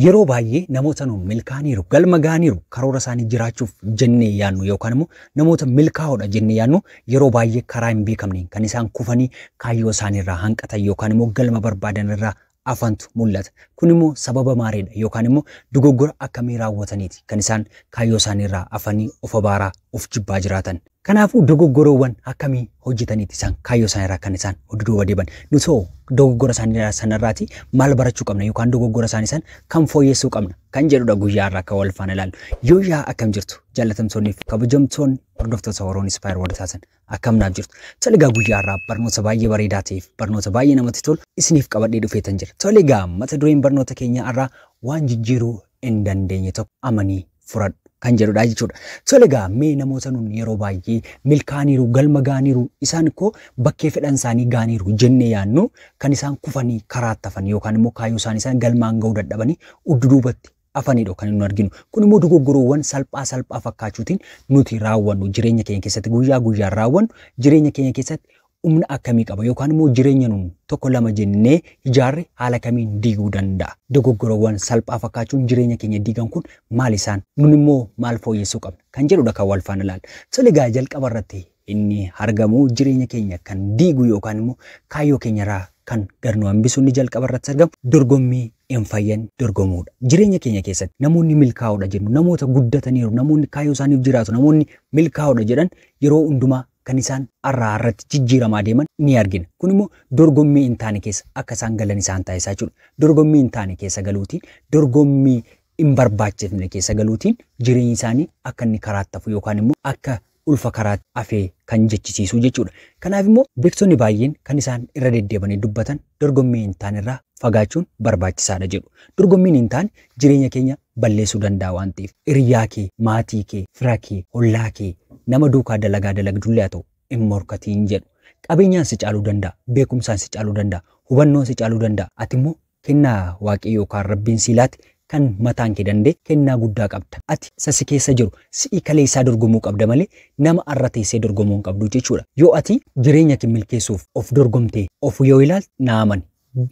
Yeroo baay'ee namoota nuun milkaa'aniiru, galma ga'aniiru, karoora isaanii jiraachuuf jennee yaadnu yookaan immoo namoota milkaa'oodha jennee yaadnu yeroo baay'ee karaa hin beekamneen kan isaan kufanii kaayyoo isaanii irraa hanqatan yookaan immoo galma barbaadan irraa hafantu mul'ata. Kun immoo sababa maaliidha yookaan immoo dogoggora akkamii raawwataniiti kan isaan kaayyoo isaanii irraa hafanii of abaaraa, of jibbaa jiraatan? Kanaafuu dogoggorawwan akkamii hojjetaniiti isaan kaayyoo isaanii irraa kan isaan duduuba deeban? Nuti hoo dogoggora isaanii sana irraati maal barachuu qabna yookaan dogoggora isaanii san kan fooyyessuu qabna kan jedhudha guyyaa irraa akka wal faana ilaalu. Yoo yaa akkam jirtu jaallatamtoonni fi kabajamtoonni hordoftoota Oroon Ispaayer World Taasan akkam naaf jirtu. Toligaa guyyaa irraa barnoota baay'ee bareedaa ta'eef barnoota baay'ee namatti tolu isiniif qabadhee dhufeetan jira. Toligaa mata dureen barnoota keenyaa irraa waan jijjiiruu hin dandeenye tokko amanii furadhu kan jedhudha jechuudha. Tole egaa mee namoota nun yeroo baay'ee milkaaniiru galma gaaniiru isaan koo bakkee fedhan isaanii gaaniiru jennee yaannu kan isaan kufanii karaa tafan yookaan immoo kaayyoo isaanii isaan galmaan ga'uu dadhabanii uddu duubatti afanidha kan nu arginu. Kun immoo dogoggoroowwan salphaa salphaa fakkaachuutiin nuti raawwannu jireenya keenya keessatti guyyaa guyyaan raawwannu jireenya keenya keessatti humna akkamii qaba yookaan immoo jireenya nun tokko lama jennee ijaarre haala kamiin diiguu danda'a? Dogoggorawwan salphaa fakkaachuun jireenya keenya diigan kun maal isaan? Nun immoo maal fooyyessuu qabna? Kan jedhudha kan wal faana ilaallu. Tole egaa jalqaba irratti inni argamu jireenya keenya kan diigu yookaan immoo kaayyoo keenyarraa kan gad nu hambisu inni jalqaba irratti argamu dorgommii hin fayyan dorgomuudha. Jireenya keenya keessatti namoonni milkaa'oodha jennu, namoota guddataniiru, namoonni kaayyoo isaaniif jiraatu, namoonni milkaa'oodha jedhan yeroo hundumaa kan isaan har'aa har'atti jijjiiramaa deeman ni argina. Kun immoo dorgommii hin taane keessa akka isaan galan isaan taasisa jechuudha. Dorgommii hin taane keessa galuutiin, dorgommii hin barbaachifne keessa galuutiin jireenyi isaanii akka inni karaatti hafu yookaan immoo akka ulfa karaatti hafee kan jechisiisu jechuudha. Kanaaf immoo beektonni baay'een kan isaan irra deddeebanii dubbatan dorgommii hin taane irraa fagaachuun barbaachisaadha jedhu. Dorgommiin hin taane jireenya keenya balleessuu danda'a waan ta'eef hiriyaa kee, maatii kee, fira kee, hollaa kee, nama duukaa dalagaa dalagdullee haa ta'u hin morkatiin jedhu. Qabeenyaan si caaluu danda'a, beekumsaan si caaluu danda'a, hubannoon si caaluu danda'a, ati immoo kennaa Waaqayyo yookaan Rabbiin sii laate kan mataan kee danda'e kennaa guddaa qabda. Ati isa si keessa jiru, si'i kaleessaa dorgomuu qabda malee nama har'a teessee dorgomuu hin qabdu jechuudha. Yoo ati jireenya kee milkeessuuf of dorgomtee of yoo ilaalte naa amani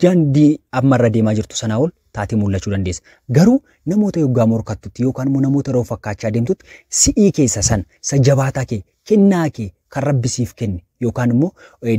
daandii amma irra deemaa jirtu sanaa ol taatee mul'achuu dandeessa. Garuu namoota yoggaa morkattutti yookaan immoo namoota yeroo fakkaachaa deemtutti si'ii keessa san isa jabaataa kee kennaa kee kan rabbi siif kenne yookaan immoo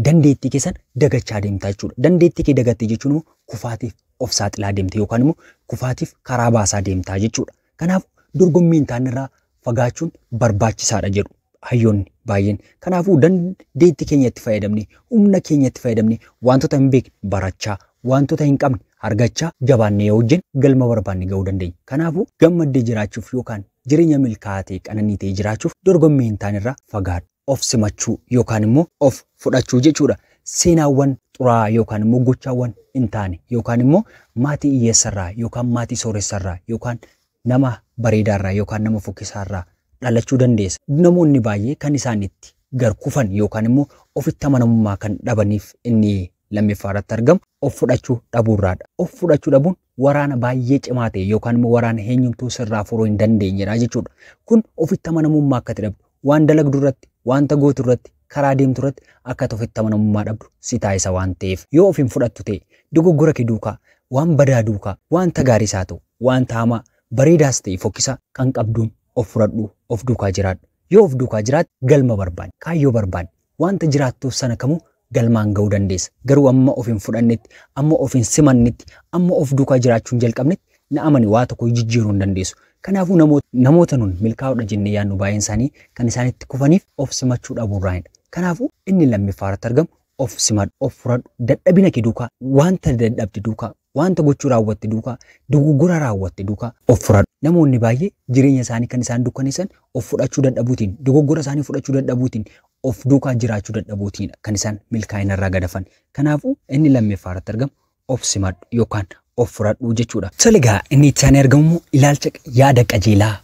dandeettii kee san dagachaa deemta jechuudha. Dandeettii kee dagattee jechuun immoo kufaatiif of saaxilaa deemta yookaan immoo kufaatiif karaa baasaa deemta jechuudha. Kanaaf dorgommiin taanirraa fagaachuun barbaachisaadha jedhu hayyoonni baay'een. Kanaafuu dandeetti keenya itti fayyadamne, humna keenya itti fayyadamne, wantoota hin beekne barachaa, wantoota hin qabne argachaa jabaannee yoo hojjenne galma barbaanne ga'uu dandeenya. Kanaafuu gammaddee jiraachuuf yookaan jireenya milkaa'aa ta'e qananii ta'e jiraachuuf dorgommii hin taanerraa fagaadhu. of simachuu yookaan immoo of fudhachuu jechuudha. Seenaawwan xuraa'aa yookaan immoo gochaawwan hin taane yookaan immoo maatii hiyyeessarraa yookaan maatii sooressarraa yookaan nama bareedaarraa yookaan nama fokkisaarraa dhalachuu dandeessa. Namoonni baay'ee kan isaan itti gar kufan yookaan immoo ofitti amanamummaa kan dhabaniif inni lammiffaa irratti argamu of fudhachuu dhabuurraadha. Of fudhachuu dhabuun waraana baay'ee cimaa ta'e yookaan immoo waraana eenyumtuu sirraa furuu hin dandeenyedha jechuudha. Kun ofitti amanamummaa akkati dhabdu, Waan dalagdu irratti, wanta gootu irratti, karaa deemtu irratti akka ati ofitti amanamummaa dhabdu si taasisa waan ta'eef. Yoo of hin fudhattu ta'e, dogoggora kee duukaa, waan badaa duukaa, wanta gaariis haa ta'u, wanta hamaa, bareedaas ta'e fokkisaa, kan qabduun of fudhadhuu of duukaa jiraadhu. Yoo of duukaa jiraatte galma barbaadde, kaayyoo barbaadde, Wanta jiraattuuf sana kamuu galmaan ga'uu dandeessa. Garuu amma of hin fudhannetti, amma of hin simannetti, amma of duukaa jiraachuu hin jalqabnetti na amani waa tokkoyyuu jijjiiruu hin dandeessu. Kanaafuu namoota. Namoota nun milkaa'oodha jennee yaadnu baay'een isaanii kan isaan itti kufaniif of simachuu dhabuurraanidha. Kanaafuu inni lammiffaarratti argamu of simadhu, of fudhadhu, dadhabina kee duukaa, wanta dadhabde duukaa, Wanta gochuu raawwatte duukaa, dogoggora raawwatte duukaa. of fudhadhu. Namoonni baay'ee jireenya isaanii kan isaan dukkaneessan of fudhachuu dadhabuutiin, dogoggora isaanii fudhachuu dadhabuutiin, of duukaa jiraachuu dadhabuutiinidha kan isaan milkaa'ina irraa gad hafan. Kanaafuu, inni lammeffaa irratti argamu of simadhu yookaan of fudhadhu jechuudha. Tole egaa inni itti aanee argamu immoo ilaalcha, yaada qajeelaa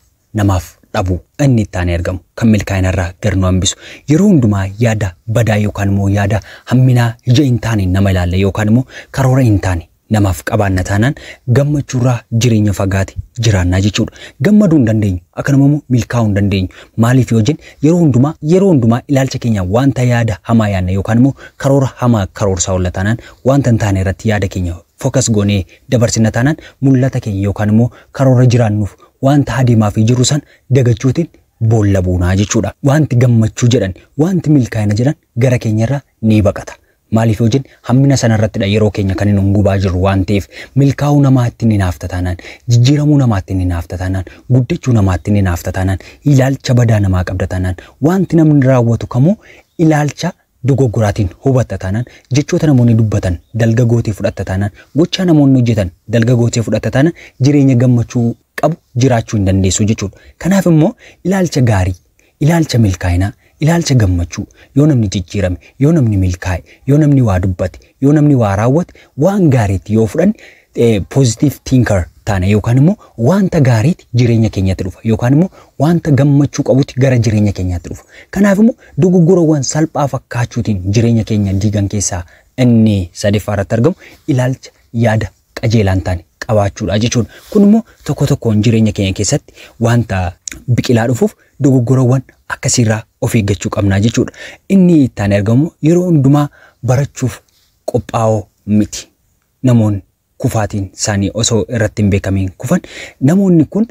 namaaf dhabu inni itti aanee argamu kan milkaa'ina irraa gar nu hambisu yeroo hundumaa yaada badaa yookaan immoo yaada hamminaa ija hin taane nama ilaalla yookaan immoo karoora hin taane namaaf qabaanna taanaan gammachuu irraa jireenya fagaate jiraannaa jechuudha. Gammaduu hin dandeenyu akkanuma immoo milkaa'uu hin dandeenyu maaliif yoo jennu yeroo hundumaa yeroo hundumaa ilaalcha keenya wanta yaada hamaa yaadna yookaan immoo karoora hamaa karoorsaa oolla taanaan wanta hin taane irratti yaada keenya focus goonee dabarsina taanaan mul'ata keenya yookaan immoo karoora jiraannuuf waanta adeemaafii jirru san dagachuutiin boolla buunaa jechuudha. Waanti gammachuu jedhan, waanti milkaa'ina jedhan gara keenyarraa ni baqata. Maaliif yoo jenne hammina sanarrattidha yeroo keenya kan nun gubaa jirru waan ta'eef. Milkaa'uu namaa ittiin hinaafta taanaan, jijjiiramuu namaa ittiin hinaafta taanaan, guddachuu namaa ittiin hinaafta taanaan, ilaalcha badaa namaa qabda taanaan, waanti namni raawwatu kamuu ilaalcha dogoggoraatiin hubatta taanaan, jechoota namoonni dubbatan dalga gootee fudhatta taanaan, gochaa namoonni hojjetan dalga gootee fudhatta taanaan jireenya gammachuu qabu jiraachuu hin dandeessu jechuudha. Kanaaf immoo ilaalcha gaarii, ilaalcha milkaa'inaa, ilaalcha gammachuu yoo namni jijjiirame, yoo namni milkaa'e, yoo namni waa dubbate, yoo namni waa raawwate waan gaariitti yoo fudhanne positive thinker taana yookaan immoo wanta gaariiti jireenya keenyatti dhufa yookaan immoo wanta gammachuu qabutti gara jireenya keenyatti dhufa. Kanaaf immoo dogoggorawwan salphaa fakkaachuutiin jireenya keenya diigan keessaa inni sadaffaa irratti argamu ilaalcha yaada qajeelaan taane qabaachuudha jechuudha. Kun immoo tokko tokkoon jireenya keenya keessatti wanta biqilaa dhufuuf dogoggorawwan akkasiirraa of eeggachuu qabnaa jechuudha. Inni itti aanee argamu yeroo hundumaa barachuuf qophaa'oo miti. namoonni kufaatiin isaanii osoo irratti hin beekamiin kufan namoonni kun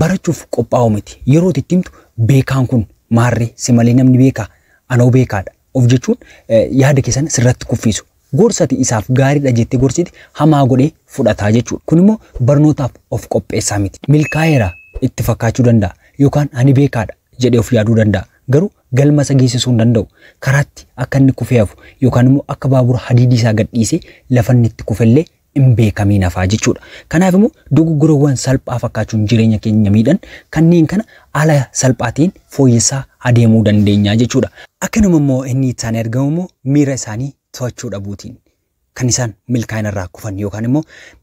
barachuuf qophaa'oo miti. Yeroo itti himtu beekaan kun maarree si malee namni beekaa anoo beekaadha of jechuun yaada keessan sirratti kuffiisu. Gorsati isaaf gaariidha jettee gorsiti hamaa godhee fudhataa jechuudha. Kun immoo barnootaaf of qopheessaa miti. Milkaa'eera itti fakkaachuu danda'a yookaan ani beekaadha jedhee of yaaduu danda'a. Garuu galma isa geessisuu hin danda'u. Karaatti akka inni kufee hafu yookaan immoo akka baabura hadiidii isaa gadhiisee lafa inni itti kufe illee hin beekamiin hafaa jechuudha. Kanaaf immoo dogoggorawwan salphaa fakkaachuun jireenya keenya miidhan kanneen kana haala salphaa ta'een fooyyessaa adeemuu dandeenya jechuudha. Akkanuma immoo inni itti aanee argamu immoo miira isaanii to'achuu dhabuutiin kan isaan milkaa'ina irraa kufan yookaan immoo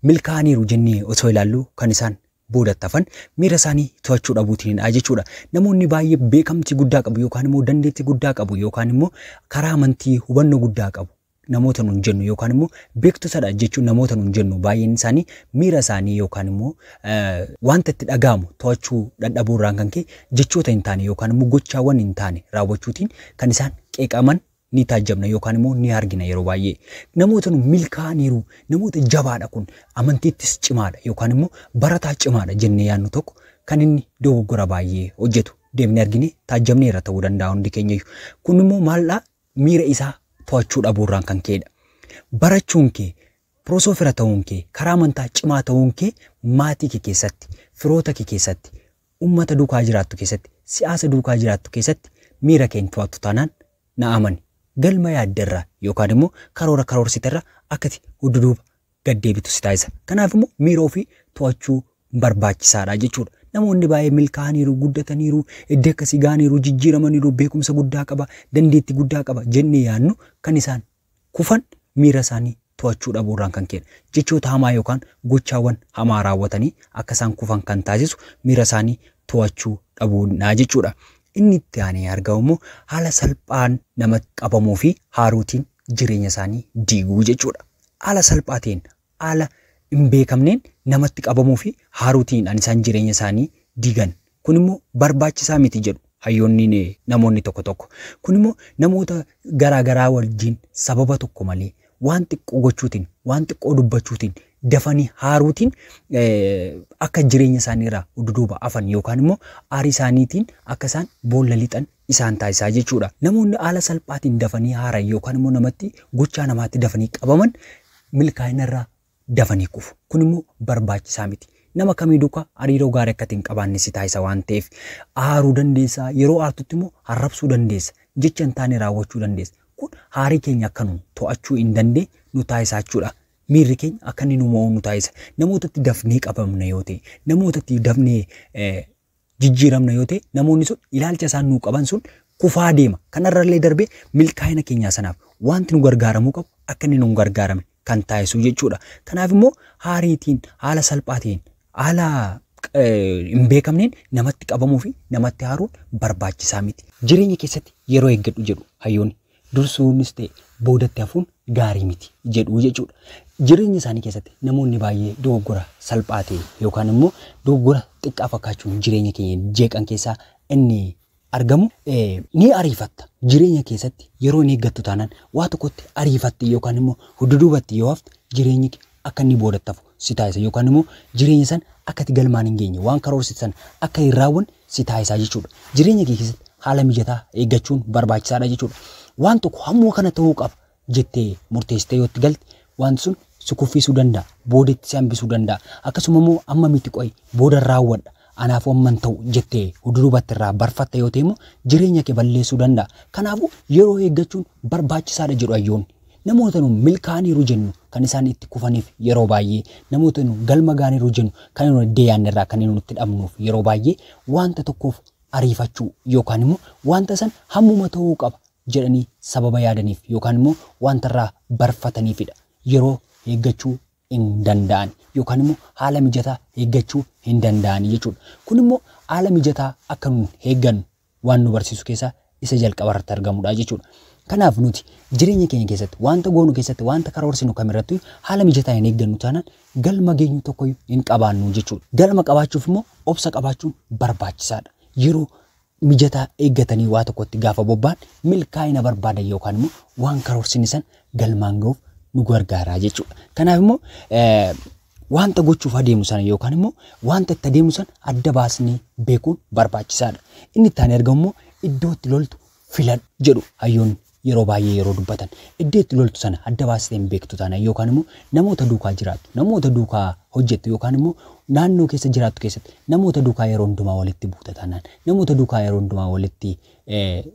milkaa'aniiru jennee osoo ilaallu kan isaan boodatti hafan miira isaanii to'achuu dhabuutiinidha jechuudha. Namoonni baay'ee beekamtii guddaa qabu yookaan immoo dandeettii guddaa qabu yookaan immoo karaa amantii hubannoo guddaa qabu namoota nuun jennu yookaan immoo beektotadha jechuun namoota nuun jennu baay'een isaanii miira isaanii yookaan immoo wanta itti dhaga'amu to'achuu dadhabuu irraan kan ka'e jechoota hin taane yookaan immoo gochaawwan hin taane raawwachuutiin kan isaan qeeqaman ni taajjabna yookaan immoo ni argina yeroo baay'ee. Namoota nu milkaa'aniiru, namoota jabaadha kun, amantiittis cimaadha yookaan immoo barataa cimaadha jennee yaadnu tokko kan inni dogoggora baay'ee hojjetu deemnee arginee taajjabneerra ta'uu danda'a hundi keenyayyu. Kun immoo maaldhaa miira isaa to'achuu dhabuurraan kan ka'edha. Barachuun kee Prosoo fira ta'uun kee, karaa amantaa cimaa ta'uun kee maatii kee keessatti, firoota kee keessatti, ummata duukaa jiraattu keessatti, si'aasa duukaa jiraattu keessatti miira kee hin to'attu taanaan na amani galma yaadde irraa yookaan immoo karoora karoorsite irraa akka ati hudduduuba gad deebitu si taasisa. Kanaaf immoo miira ofii to'achuu barbaachisaadha jechuudha. Namoonni baay'ee milkaa'aniiru, guddataniiru, iddoo akkasii ga'aniiru, jijjiiramaniiru, beekumsa guddaa qaba, dandeettii guddaa qaba jennee yaadnu kan isaan kufan miira isaanii to'achuu dhabuu irraan kan ka'edha. Jechoota hamaa yookaan gochaawwan hamaa raawwatanii akka isaan kufan kan taasisu miira isaanii to'achuu dhabuudha jechuudha. Inni itti aanee argamu immoo haala salphaan namatti qabamuu fi haaruutiin jireenya isaanii diiguu jechuudha. Haala salphaa ta'een haala hin beekamneen namatti qabamuu fi haaruu tiin dhaan isaan jireenya isaanii diigan. Kun immoo barbaachisaa miti jedhu hayyoonni namoonni tokko tokko. Kun immoo namoota garaa garaa wajjin sababa tokko malee waan xiqqoo gochuu tiin, waan xiqqoo dubbachuu tiin dafanii haaruu tiin akka jireenya isaanii irraa duduuba afan yookaan immoo aarii isaanii tiin akka isaan boolla lixan isaan taasisaa jechuu dha. Namoonni haala salphaa tiin dafanii haaran yookaan immoo namatti gochaa namaatti dafanii qabaman milkaa'ina irraa dafanii kufu. Kun immoo barbaachisaa miti. Nama kamii duukaa hariiroo gaarii akka ati hin qabaanne si taasisa waan ta'eef aaruu dandeessa. Yeroo aartutti immoo arrabsuu dandeessa. Jecha hin taane raawwachuu dandeessa. Kun haarii keenya akka nu to'achuu hin dandeenye nu taasisaa jechuudha. Miirri keenya akka inni nu mo'u nu taasisa. Namootatti dafnee qabamna yoo ta'e, namootatti dafnee eh, jijjiiramna yoo ta'e namoonni sun ilaalcha isaan nuu qaban sun kufaa deema. Kanarrallee darbee milkaa'ina keenyaa sanaaf wanti nu gargaaramuu qabu akka inni nu gargaarame kan taasisu jechuudha. Kanaaf immoo haariitiin haala salphaa ta'een haala hin beekamneen namatti qabamuu fi namatti haaruun barbaachisaa miti. Jireenya keessatti yeroo eeggadhu jedhu hayyoonni. dursuunis ta'e boodatti hafuun gaarii miti jedhu jechuudha. Jireenya isaanii keessatti namoonni baay'ee dogoggora salphaa ta'e yookaan immoo dogoggora xiqqaa fakkaachuun jireenya keenya jeeqan keessaa inni argamu ni ariifatta. Jireenya keessatti yeroo hin eeggattu taanaan waa tokkotti ariifatte yookaan immoo hudduduubatti yoo hafte jireenyi kee akka inni boodatti hafu si taasisa yookaan immoo jireenya san akka itti galmaan hin geenye waan karoorsite san akka hin raawwanne si taasisaa jechuudha. Jireenya kee keessatti haala mijataa eeggachuun barbaachisaadha jechuudha. Waan tokko hamma kana ta'uu qaba jettee murteessitee yoo itti galte wanti sun si kuffiisuu danda'a. Boodatti si hambisuu danda'a. Akkasuma immoo amma miti qo'i booda raawwadha. Anaafuu amma hin ta'u jettee hudurubatti irraa barfatta yoo ta'e immoo jireenya kee balleessuu danda'a. Kanaafuu yeroo eeggachuun barbaachisaadha jedhu hayyoonni. Namoota nu milkaa'aniiru jennu kan isaan itti kufaniif yeroo baay'ee namoota nu galma gaaniiru jennu kan nu iddee yaadne irraa kan nu itti dhabnuuf yeroo baay'ee wanta tokkoof ariifachuu yookaan immoo wanta san hammuma ta'uu qaba jedhanii sababa yaadaniif yookaan immoo wanta irraa barfataniifidha. Yeroo eeggachuu hin danda'an yookaan immoo haala mijataa eeggachuu hin danda'an jechuudha. Kun immoo haala mijataa akka nu eeggannu waan nu barsiisu keessaa isa jalqaba irratti argamudha jechuudha. Kanaaf nuti jireenya keenya keessatti wanta goonu keessatti wanta karoorsinu kamirratti haala mijataa hin eeggannu taanaan galma geenyu tokko hin qabaannu jechuudha. Galma qabaachuuf immoo obsa qabaachuun barbaachisaadha. Yeroo mijataa eeggatanii waa tokkotti gaafa bobba'an milkaa'ina barbaadan yookaan immoo waan karoorsine san galmaan ga'uuf nu gargaaraa jechuudha. Kanaaf immoo Wanta gochuuf adeemu sana yookaan immoo wanta itti adeemu sana adda baasnee beekuun barbaachisaadha. Inni itti aanee argamu immoo iddoo itti loltu filadhu jedhu hayyoonni yeroo baay'ee yeroo dubbatan. Iddoo itti loltu sana adda baastee hin beektu taanaan yookaan immoo namoota duukaa jiraattu, namoota duukaa hojjettu yookaan immoo naannoo keessa jiraattu keessatti namoota duukaa yeroo hundumaa walitti buuta taanaan, namoota duukaa yeroo hundumaa walitti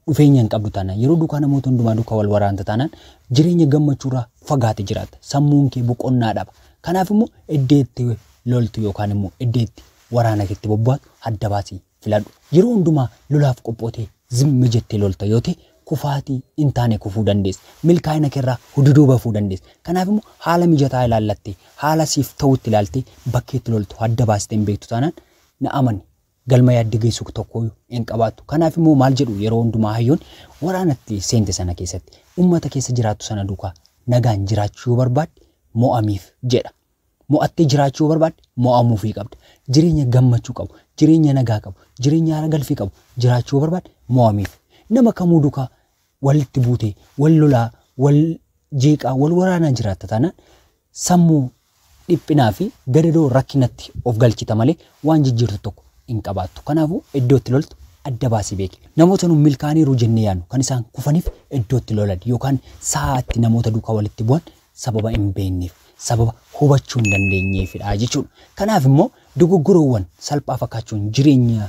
dhufeenya hin qabdu taanaan, yeroo duukaa namoota hundumaa duukaa wal waraanta taanaan jireenya gammachuurraa fagaate jiraatta. Sammuun kee boqonnaa dhaba. Kanaaf immoo iddoo itti loltu yookaan immoo iddoo itti waraana keetti bobbaatu adda baasii filadhu. Yeroo hundumaa lolaaf qophootee zimmi jettee lolta yoo ta'e kufaatii hin taane kufuu dandeessa. Milkaa'ina keerraa hududuu bafuu dandeessa. Kanaaf immoo haala mijataa ilaallattee haala siif ta'utti ilaaltee bakkeetti loltu adda baastee hin beektu taanaan na amani. galma yaadde geessu tokko hin qabaattu. Kanaaf immoo maal jedhu yeroo hundumaa hayyoon waraanatti seente sana keessatti uummata keessa jiraattu sana duukaa nagaan jiraachuu yoo barbaadde mo'amiif jedha. Mo'attee jiraachuu yoo barbaadde mo'amuufii qabda. Jireenya gammachuu qabu, jireenya nagaa qabu, jireenya haara galfii qabu jiraachuu yoo barbaadde mo'amiif. Nama kamuu duukaa walitti buutee, wal lolaa, wal jeeqaa, wal waraanaa jiraatta taanaan sammuu dhiphinaa fi gadadoo rakkinatti of galchita malee waan jijjiirtu tokko hin qabaattu. Kanaafuu iddoo itti loltu adda baasii beeki. Namoota nu milkaa'aniiru jennee yaadnu kan isaan kufaniif iddoo itti lolan yookaan sa'a itti namoota duukaa walitti bu'an sababa hin beekneef, sababa hubachuu hin dandeenyeefidha jechuudha. Kanaaf immoo dogoggorawwan salphaa fakkaachuun jireenya